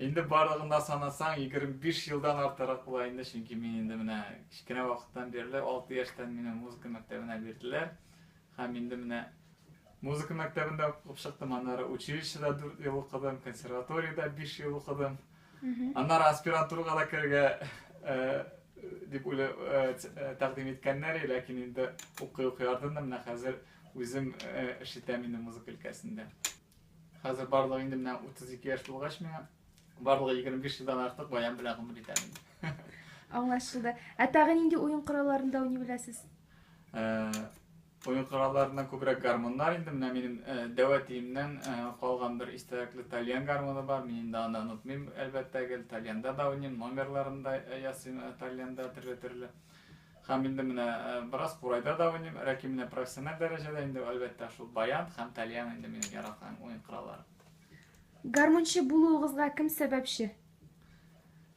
Инде барлыгында санасаң, 25 елдан артырак була инде, чөнки мин инде менә кечкенә вакыттан бирле 6 яшьтән мине музыка мәктәбенә бирделәр. Һәм инде менә музыка мәктәбендә укып чыктым, аннары училищеда 4 ел укыдым, консерваториядә 5 ел укыдым. Аннары аспирантурага да керергә дип уйлы тәкъдим иткәннәр, ләкин инде укый-укый ардым да менә хәзер үзем эш итәм инде музыка өлкәсендә. Хәзер барлыгы инде менә 32 яшь булгач миңа, барлыгы 25 елдан артык баян белән гомер итәм инде. Аңлашылды. Ә тагын нинди уен коралларында уйный беләсез? Уен коралларыннан күбрәк гармуннар инде. Менә минем э, дәвә тиемнән э, калган бер истәлекле тальян гармуны бар. Мин инде аны онытмыйм, әлбәттә гел. Тальянда да уйныйм, номерларын да э, ясыйм э, тальянда төрле-төрле. Һәм инде менә э, бераз курайда да уйныйм. Ләкин менә профессиональ дәрәҗәдә инде әлбәттә шул баян һәм тальян инде минем яраткан уен коралларым. Гармунчы булуыгызга кем сәбәпче?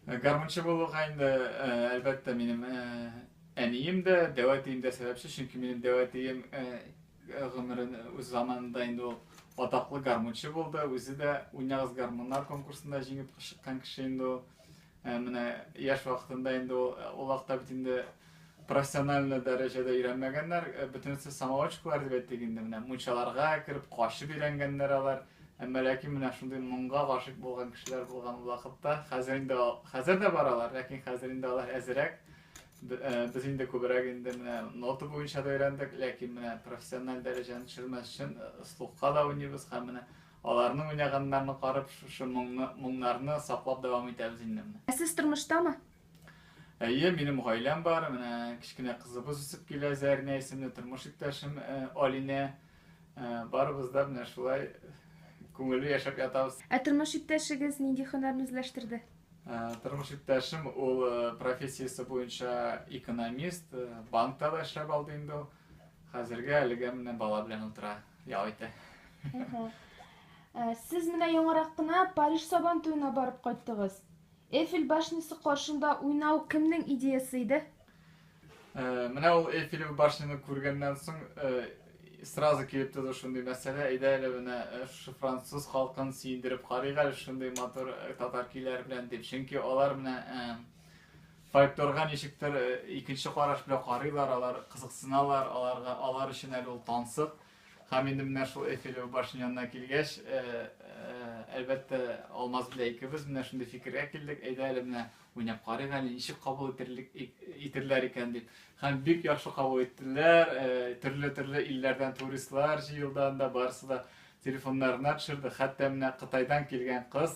Э, гармунчы булуга инде э, әлбәттә минем э, әнием дә дәвәтием дә сәбәпче чөнки минем дәвәтием гомерен үз заманында инде ул атаклы гармунчы булды үзе дә уйнагыз гармуннар конкурсында җиңеп чыккан кеше инде ул менә яшь вакытында инде ул олакта бит инде профессиональный дәрәҗәдә өйрәнмәгәннәр, э, бөтенесе самоучкалар дип әйттек инде, менә мунчаларга кереп качып өйрәнгәннәр алар. Әмма ләкин менә шундый моңга гашыйк булган кешеләр булган вакытта, хәзер инде хәзер дә баралар, ләкин хәзер инде алар әзерәк. Э, без инде күбрәк инде менә нота буенча да өйрәндек, ләкин менә профессиональ дәрәҗәне төшермәс өчен э, слухка да уйныйбыз һәм менә аларның уйнаганнарын карап, шушы моңны, моңнарны саклап дәвам итәбез инде менә. Ә сез тормыштамы? Әйе, минем гаиләм бар. Менә кечкенә кызыбыз үсеп килә, Зәрнә исемле тормыш иптәшем э, Алинә. Э, барыбыз да менә шулай күңелле яшәп ятабыз. Ә тормыш иптәшегез нинди һөнәрне үзләштерде? Э, тормыш иптәшем ул профессиясе буенча экономист, банкта да эшләп алды инде ул. Хәзергә әлегә менә бала белән утыра, ял итә. Сез менә яңарак кына Париж сабан туена барып кайттыгыз. Эйфель башнясы каршында уйнау кемнең идеясы иде? Э, менә ул Эйфель башняны күргәннән соң э, сразу килеп туды шундый мәсьәлә, әйдә әле менә э, шушы француз халкын сөендереп карыйк әле шундый матур татар көйләре белән дип. Чөнки алар менә фольклорга ничектер икенче караш белән карыйлар, алар кызыксыналар, аларга алар өчен әле ул тансык. Һәм инде менә шул Эйфелева башня янына килгәч, әлбәттә, Алмаз белән икебез менә шундый фикергә килдек, әйдә әле менә уйнап карыйк әле, ничек кабул итерлек, итерләр икән дип. Һәм бик яхшы кабул иттеләр, төрле-төрле илләрдән туристлар җыелды анда, барысы да телефоннарына төшерде, хәтта менә Кытайдан килгән кыз,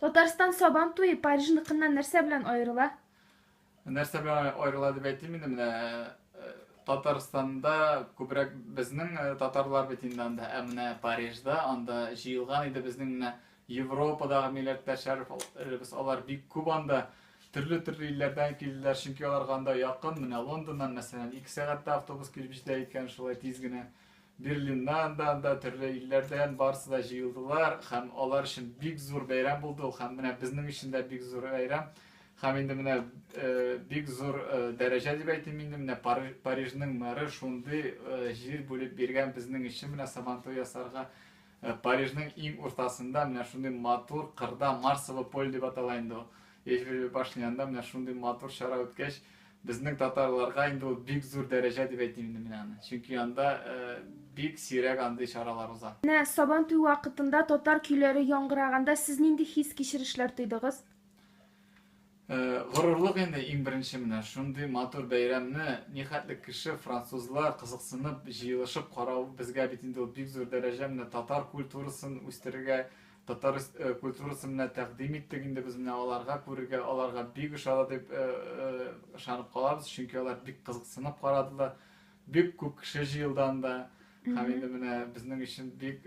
Татарстан сабан туе Парижныкыннан нәрсә белән аерыла? Нәрсә белән аерыла дип әйтим инде менә э, Татарстанда күбрәк безнең э, татарлар бит инде анда, ә менә Парижда анда җыелган иде безнең менә Европадагы милләттәшләребез алар бик күп анда. Төрле-төрле илләрдән килделәр, чөнки аларга анда якын. Менә Лондоннан, мәсәлән, 2 сәгатьтә автобус килеп җитә икән, шулай тиз генә. Берлиннан да анда төрле илләрдән барысы да җыелдылар һәм алар өчен бик зур бәйрәм булды ул һәм менә безнең өчен дә бик зур бәйрәм. Һәм инде менә э, бик зур э, дәрәҗә дип әйтим инде менә Парижның мэры шундый э, җир бүлеп биргән безнең өчен менә Сабантуй ясарга. Парижның иң уртасында менә шундый матур кырда, Марсово поле дип атала инде ул, Эйфель башня янында менә шундый матур чара үткәч, безнең татарларга инде ул бик зур дәрәҗә дип әйтим инде мин аны. Чөнки анда бик сирәк андый чаралар уза. Менә Сабантуй вакытында татар көйләре яңгыраганда сез нинди хис-кичерешләр тойдыгыз? Горурлык инде иң беренче менә шундый матур бәйрәмне нихәтле кеше французлар кызыксынып җыелышып карау безгә бит инде ул бик зур дәрәҗә менә татар культурасын үстерергә татар культурасын менә тәкъдим иттек инде без менә аларга күрергә аларга бик ошады дип ышанып калабыз чөнки алар бик кызыксынып карадылар бик күп кеше җыелды анда һәм инде менә безнең өчен бик